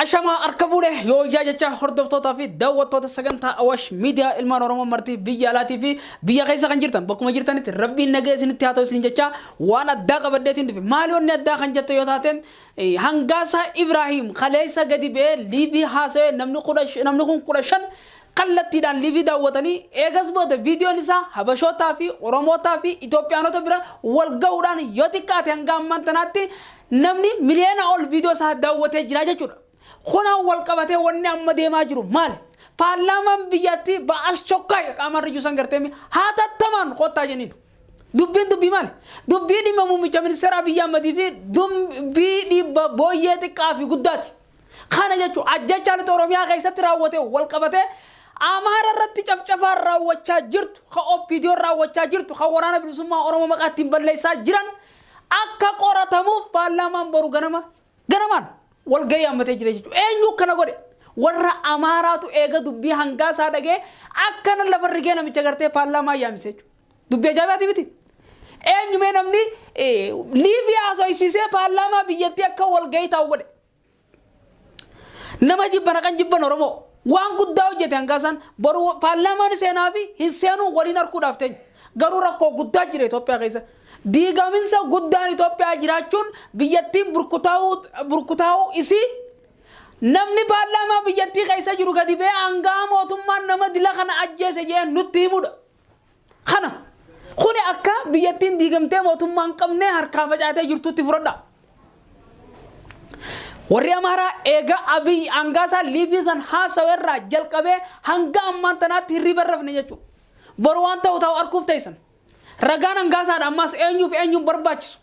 Ashamaa harka fuudhe yoo ijaa jecha hordoftootaa fi daawwattoota sagantaa Awaash miidiyaa ilmaan Oromoo martii biyya alaatii fi biyya keessa kan jirtan bakkuma jirtanitti rabbiin nagee isinitti haa ta'u isin jecha waan addaa qabadheetiin dhufe maali wanni addaa kan jette yoo taate hangaasaa Ibraahiim kaleessa gadi ba'ee liivii haasa'ee namni kun kudha shan kallattiidhaan live daawwatanii eegas booda viidiyoon isaa Habashootaa fi Oromootaa fi Itoophiyaanota bira wal gahuudhaan yoo xiqqaate hanga ammaan tanaatti namni miliyoona ol viidiyoo isaa daawwatee jira jechuudha. Kunaan wal qabatee wanni amma deemaa jiru maali? Paarlaamaan biyyattii ba'as chokkaaya qaamaan riyyuu san gartee mi hatattamaan kottaa jenniin. Dubbiin dubbii maali? Dubbii dhimma muummicha ministeera Abiyyi Ahmadii fi dubbii dhibba booyyee xiqqaa fi guddaati. Kana jechuun ajjeechaa lixa Oromiyaa keessatti raawwateen walqabatee Amaara irratti cafcafaan raawwachaa jirtu, kan OPDOn raawwachaa jirtu, kan Waraana Bilisummaa Oromoo maqaa ittiin balleessaa jiran akka qoratamuuf paarlaamaan boru ganama ganamaan walgahii yaammatee jira jechuudha. Eenyu akkana godhe? Warra Amaaraatu eega dubbii hangaa isaa dhagee akkana lafa rigee namicha gartee paarlaamaa yaamsise jechuudha. Dubbii ajaa'ibaati miti. Eenyumee namni eh, Liibiyaa haasofsiisee paarlaamaa biyyattii akka walgahii taa'u godhe. Nama jibbana kan jibban Oromoo waan guddaa hojjete hangaa isaan boru paarlaamaan seenaa fi hin seenuu waliin harkuudhaaf teenya. Garuu rakkoo guddaa jira Itoophiyaa keessa. Diigaminsa guddaan Itoophiyaa jiraachuun biyyattiin burkutaa'uu burkutaa'uu isii namni paarlaamaa biyyattii keessa jiru gadi ba'ee hangaa mootummaan nama dila kana ajjeese jee nutti himudha. Kana kuni akka biyyattiin diigamtee mootummaa hin qabnee harkaa facaatee jirtutti fudhadha. Warri Amaaraa eegaa Abiy aangaasaa liivii san haasawa irraa jalqabee hanga ammaan tanaatti hirriiba hin rafne jechuudha. Boru waan ta'u ta'u arguuf teessan. Ragaan aangaasaadha ammaas eenyuuf eenyuun barbaachisu.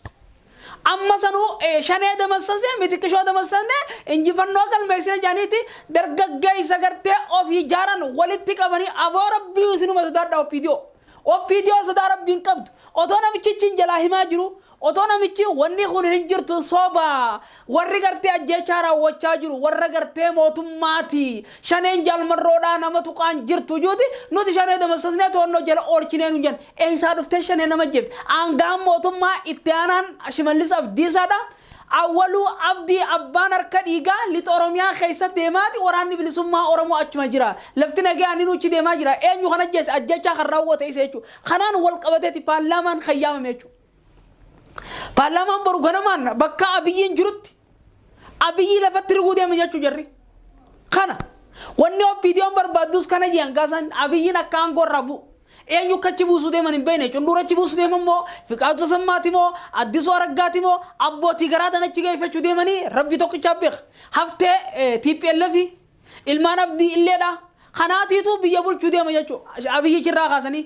Amma sanuu shanee damassasne mitiqishoo damassasne injifannoo galmeessina jedhaniiti dargaggeessa gartee ofii jaaran walitti qabanii aboo rabbiyu isinuma sodaadha OPDO. OPDO sodaa rabbii hin qabdu. Otoo namichichi hin jalaa himaa jiruu otoo namichi wanni kun hin jirtu soba Warri gartee ajjeechaa raawwachaa jiru warra gartee mootummaati. Shaneen Jaal Marroodhaa nama tuqaan jirtu juuti nuti shanee damassasnee to'annoo jala oolchinee nuun jedhan. Eessaa dhuftee shanee nama ajjeefti? Aanga'aan mootummaa itti aanaan Shimallis Abdiisaadha. Awwaluu Abdii abbaan harka dhiigaa Lixa Oromiyaa keessa deemaati waraanni bilisummaa Oromoo achuma jira. Lafti nagayaa inni nuuchi deemaa jira. Eenyu kan ajjeese? Ajjeechaa kan raawwate isa jechuu. Kanaan wal qabateeti paarlaamaan kan yaamame jechuu. Paarlaamaan boru ganamaan bakka Abiyyiin jirutti Abiyyii lafatti riguu deema jechuu jarri. Kana wanni OPDOn barbaaddus kana jiran kaasaan Abiyyiin akka aangoo irraa bu'u. Eenyu akka achi buusuu deeman hin beekne. Cunduura achi buusuu deeman moo Fiqaaduu Tasammaati moo Addisuu Araggaati moo abbootii garaadhaan achi geeffachuu deemanii rabbi tokkichaa beeka. Haftee TPLF ilmaan abdii illeedha. Kanaatiitu biyya bulchuu deema jechuudha. Abiyyichi irraa kaasanii.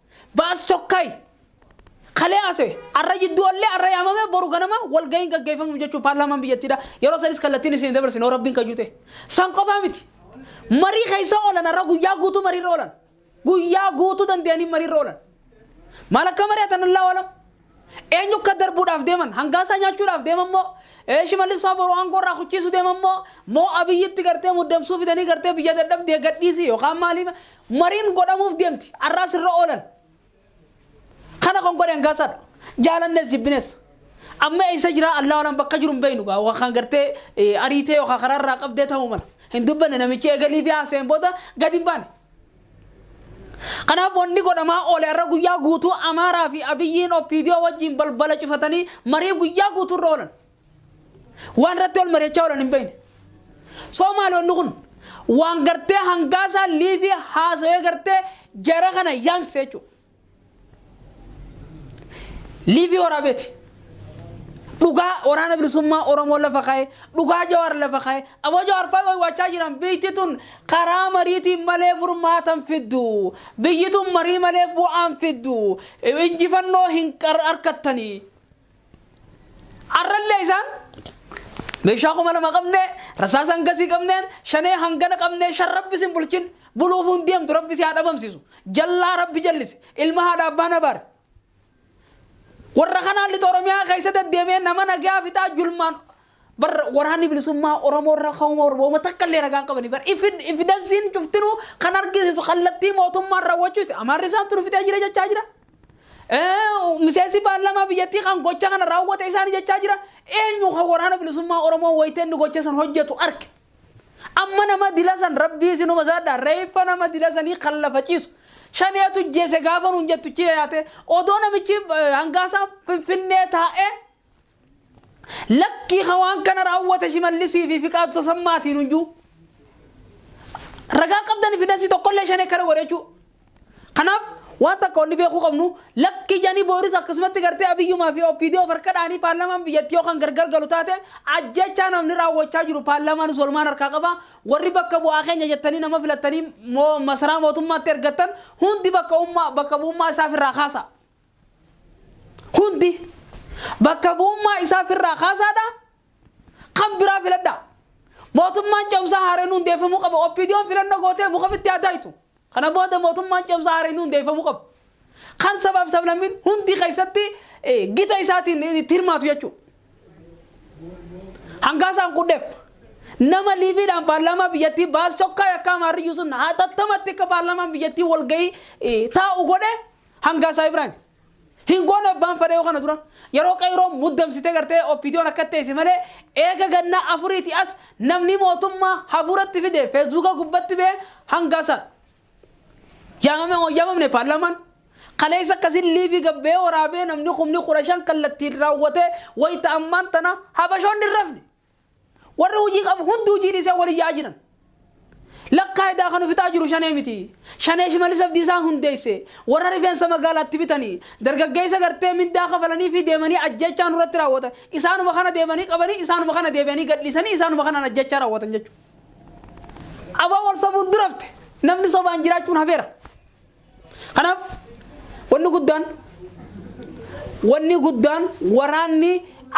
Baas Tokkay kalee haasa'e har'a jidduu ollee har'a yaamamee boru ganama walga'iin gaggeeffamuuf jechuun paarlaamaan biyyattiidha. Yeroo sanis kallattiin isin dabarsine hoo rabbiin kayyuu ta'e. San qofaa miti. Marii keessa oolan har'a guyyaa guutuu mariirra oolan. Guyyaa guutuu danda'anii mariirra oolan. Maal akka mari'atan Allaahu alam. Eenyu akka darbuudhaaf deeman? Hangaasaa nyaachuudhaaf deeman moo? Ee Shimallis faa boru aangoo irraa kuchiisu deeman moo? Moo Abiyyitti gartee muddamsuu fidanii gartee biyya dadhabdee gadhiisi yookaan maalii mariin godhamuuf deemti. Arraas irra oolan. Kana kan godhe hangaasaadha. Jaalannes jibbines. Amma eessa jiraa Allaa walaan bakka jiru hin beeknu gaa waan kan gartee ariitee yookaan karaa irraa qabdee ta'uu mala. Hin dubbanne namichi eegalii fi haasa'een booda gad hin baane. Kanaaf wanni godhamaa oole har'a guyyaa guutuu Amaaraa fi Abiyyiin OPDO wajjin balbala cufatanii marii guyyaa guutuu irra oolan. Waan irratti wal mari'achaa oolan hin beekne. Soo maali wanni kun? Waan gartee hangaasaa liivii haasawee gartee jara kana yaamsise jechuudha. Liivii waraabeeti. Dhugaa waraana bilisummaa Oromoo lafa kaa'e, dhugaa Jawaar lafa kaa'e, aboo Jawaar fa'aa waywaachaa jiran biyyi tun karaa mariitiin malee furmaatan fiddu. Biyyi tun marii malee bu'aan fiddu. Injifannoo hin harkattanii. Arrallee isaan meeshaa kuma lama qabnee rasaasa hangasii qabneen shanee hangana qabnee shan rabbi sin bulchin buluuf hin deemtu rabbi si haa dhabamsiisu jallaa rabbi jallise ilma haadha abbaan abaare. Warra kanaan lixa Oromiyaa keessa deddeemee nama nagaa fixaa julmaan Bar waraanni bilisummaa Oromoo irra ka'uuma barbaaduma takka illee ragaan qabani. Bar ifidansiin cuftinuu kan argisiisu kallattii mootummaan raawwachuuti. Amaarri isaantu nu fixee jira jechaa jira. Miseensi paarlaamaa biyyattii kan gocha kana raawwate isaani jechaa jira. Eenyu kan waraana bilisummaa Oromoo wayitee inni gocha san hojjetu arge. Amma nama dila san rabbii isinuma zaadha reeffa nama dila sanii kan lafa ciisu. Shaneetu jeese gaafa nuun jettu chiya yaate odoo namichi hangaasaa finfinnee taa'ee Lakkii ka waan kana raawwate Shimallisii fi Fiqaadu Tasammaati nuyyuu ragaan qabdani fidansi tokkollee shanee kana godhe jechuu. Kanaaf waan takka wanni beekuu qabnu lakkii janii booris akkasumatti gartee Abiyyumaa fi OPDO farka dhaanii paarlaamaan biyyatti yoo kan gargar galu taate ajjechaa namni raawwachaa jiru paarlaamaanis walumaan harkaa qaba warri bakka bu'aa keenya jettanii nama filattanii moo masaraa mootummaatti ergattan hundi bakka ummaa bakka bu'ummaa isaaf irraa kaasa. Hundi bakka bu'ummaa isaa firraa kaasaadha. Kan biraa filadhaa. Mootummaan ce'umsaa haareen hundeeffamuu qaba. OPDOn filannoo gootee muka fitti haa daayitu. Kana booda mootummaan ce'umsaa haareen hundeeffamuu qaba. Kan sabaaf sablammiin hundi keessatti eh, gita isaatiin itti hirmaatu jechuudha. Hangaasaan qudheef nama liiviidhaan paarlaamaa biyyattii baas tokkaa yakkaa maarriyyuu sun haatattamatti akka paarlaamaan biyyattii walgahii eh, taa'u godhe Hangaa isaa Ibrahim. Hin goone abbaan fadhee kana dura. Yeroo qeeroon muddamsitee gartee oppiidiyoon akka teesse malee eega gannaa afuriiti as namni mootummaa hafuuratti fide feesbuuka gubbatti bee hangaa isaa. Yaamame moo yaamamne paarlaamaan? Kaleessa akkasiin liivii gabbee waraabee namni kumni kudha shan kallattiin raawwatee wayita ammaan tana habashoonni hin rafne. Warri hujii qabu hundi hujii dhiisee wal iyyaa jiran. Lakkaa edaa kan ufixaa jiru shanee miti. Shanee Shimallis Abdiisaan hundeesse. Warra rifeensa magaalaatti bitani. Dargaggeessa gartee mindaa kafalaniifii deemanii ajjeechaa nurratti raawwatan. Isaanuma kana deemanii qabanii, isaanuma kana deebi'anii gadhiisanii, isaanuma kanaan ajjeechaa raawwatan jechuudha. Abo wal sobuun durafte. Namni sobaan jiraachuun hafeera. Kanaaf wanni guddaan wanni guddaan waraanni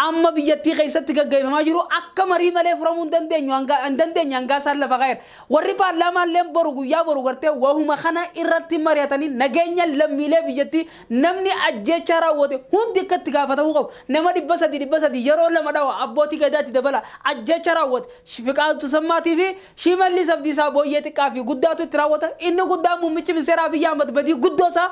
amma biyyattii keessatti gaggeeffamaa jiru akka marii malee furamuu hin dandeenyu hanga- hin dandeenye hangaa isaan lafa kaa'eera. Warri paarlaamaa illee boru guyyaa boru gartee wahuma kana irratti mari'atanii nageenya lammiilee biyyattii namni ajjeechaa raawwate hundi akka itti gaafatamuu qabu. Nama dhibba sadii dhibba sadii yeroo lama dhawa abbootii gadaatti dabala ajjeechaa raawwate fiqaatu sammaatii fi Shimallis Abdiisaa booyyee xiqqaa fi guddaatu itti raawwata. Inni guddaan muummichi ministeeraa Abiyyi Ahmad badii guddoo isaa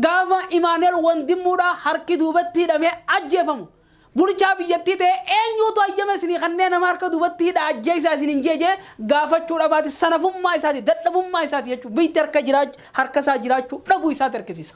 gaafa Imaanu'eel Wandimmuudhaa harki duubatti hidhamee ajjeefamu bulchaa biyyattii ta'ee eenyuutu hayyama isinii kannee nama harka duubatti hidhaa ajjeesaa isiniin jee jee gaafachuu dhabaati sanafummaa isaati dadhabummaa isaati jechuun biyytti harka isaa jiraachuu dhabuu isaati argisiisa.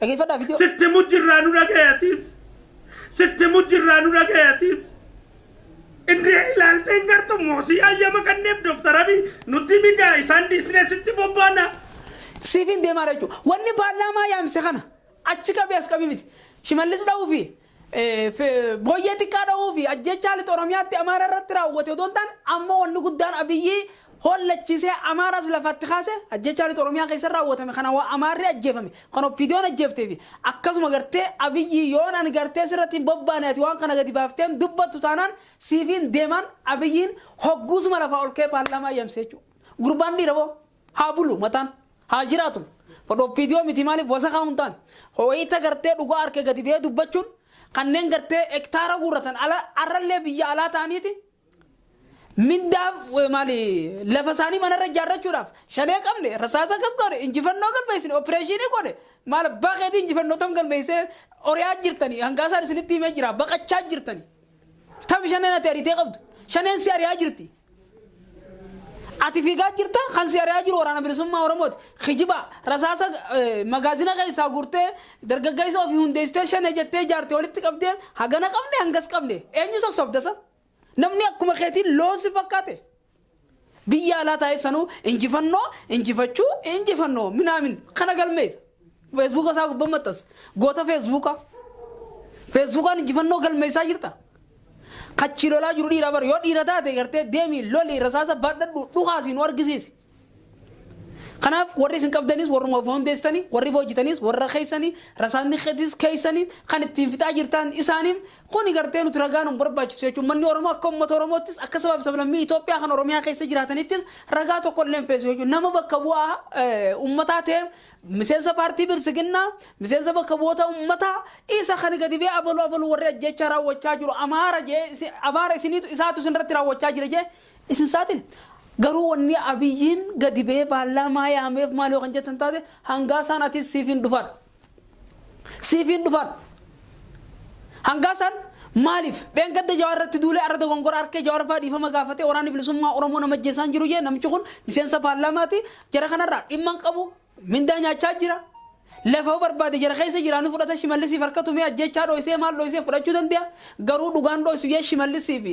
Dhageeffadhaa video. Sitti himu jirraa nu dhagahi atiis. Sitti himu jirraa nu dhagahi atiis. Indee ilaaltee hin gartu moosii hayyama kanneef Dr. Abiy nutti migaa isaan dhiisnee sitti bobbaana. Siifin deemaadha jechuudha. Wanni paarlaamaa yaamse kana achi qabii as qabii miti. Shimallis dha'uu fi Booyyee xiqqaa dhahuu fi ajjeechaa lixa Oromiyaatti Amaara irratti raawwate odoo hin taane amma wanni guddaan Abiyyi hollachiisee Amaaraas lafaatti kaase ajjeechaa lixa Oromiyaa keessa raawwatame kana waa Amaarri ajjeefame kan Oppiidiyoon ajjeeftee fi akkasuma gartee Abiyyi yoon ani gartee sirratti hin bobbaane ati waan kana gadi baafteen dubbattu taanaan siifiin deemaan Abiyyiin hogguusuma lafaa ol ka'ee paarlaamaa yamsee jechuudha. Gurbaan dhiira boo. Haa bulu mataan. Haa jiraatu. Kun OPDO miti maaliif wasakaa hin taane. Wayita gartee dhugaa harka gadi ba'ee dubbachuun kanneen gartee hektaara guurratan ala har'allee biyya alaa ta'aniiti mindaa eh, maali lafa isaanii manarra ijaarrachuudhaaf shanee qabne rasaasa akkas goone injifannoo galmeessine opereeshinii goone maal abbaa keetii injifannoo tam galmeessee oriyaa jirtanii hangaasaan isinitti himee jira baqachaa jirtanii tam shaneen ati ariitee qabdu shaneen si ariyaa jirti Ati fiigaa jirta kan si ari'aa jiru waraana bilisummaa Oromooti. Kijiba rasaasa eh, magaazina keessaa guurtee dargaggeessa ofii hundeessitee shanee jettee ijaarte walitti qabdee hagana qabne hangas qabne eenyu sossobdasa? Namni akkuma keetiin loon si fakkaate. Biyya alaa taa'ee sanuu injifannoo injifachuu injifannoo minaamin kana galmeessa. Feesbuuka isaa gubbaa maxxanse. Goota feesbuuka. Feesbuukaan injifannoo galmeessaa jirta. Kachi lolaa jiru dhiira bara yoo dhiira taate gartee deemi loli rasaasa baadhadhu dhukaasi nu argisiisi. Kanaaf warri isin qabdanis warruma of hundeessitanii warri boojitanis warra keessanii rasaanni keetis keessanii kan ittiin fixaa jirtan isaanii kuni gartee nuti ragaa nu barbaachisu jechuun manni Oromoo akka uummata Oromoottis akka sabaaf sablammii Itoophiyaa kan Oromiyaa keessa jiraatanittis ragaa tokko illee hin feesu jechuun nama bakka bu'aa eh, uummataa ta'e Miseensa paartii Bilsiginnaa, miseensa bakka bu'oota ummataa, isa kan gadi ba'ee abalu abalu warri ajjeechaa raawwachaa jiru Amaara jedhee Amaara isiniitu isaatu isinirratti raawwachaa jira jedhee isin saaxile. Garuu wanni Abiyyiin gadi ba'ee paarlaamaa yaameef maal yoo kan jettan taate hangaa saan atis siifin dhufadha. Siifin dhufan. Hangaa san maaliif dheengadda Jawaar irratti duulee arra dogongora harkee Jawaar faa dhiifama gaafatee waraanni bilisummaa Oromoo nama ajjeesaan jiru jee namichi kun miseensa paarlaamaati jara kanarraa dhimma hin qabu mindaa nyaachaa jira lafa barbaade jara keessa jiraanii fudhata shimallisiif harka tumee ajjeechaa dhooysee maal dhooysee fudhachuu danda'a garuu dhugaan dhooysu jee shimallisiif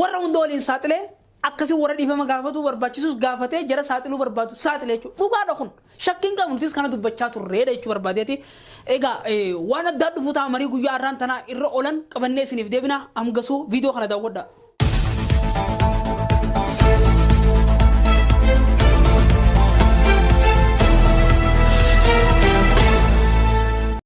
warra hunda waliin saaxilee Akkasi warra dhiifama gaafatuu barbaachisus gaafatee jara saaxiluu barbaadu saaxile jechuudha. Dhugaadha kun. Shakkii hin qabnu nutis kana dubbachaa turreedha jechuu barbaadeeti. Egaa eh, waan addaa dhufu ta'a marii guyyaa har'aan tanaa irra oolan qabannee isiniif deebina amgasuu viidiyoo kana daawwadha.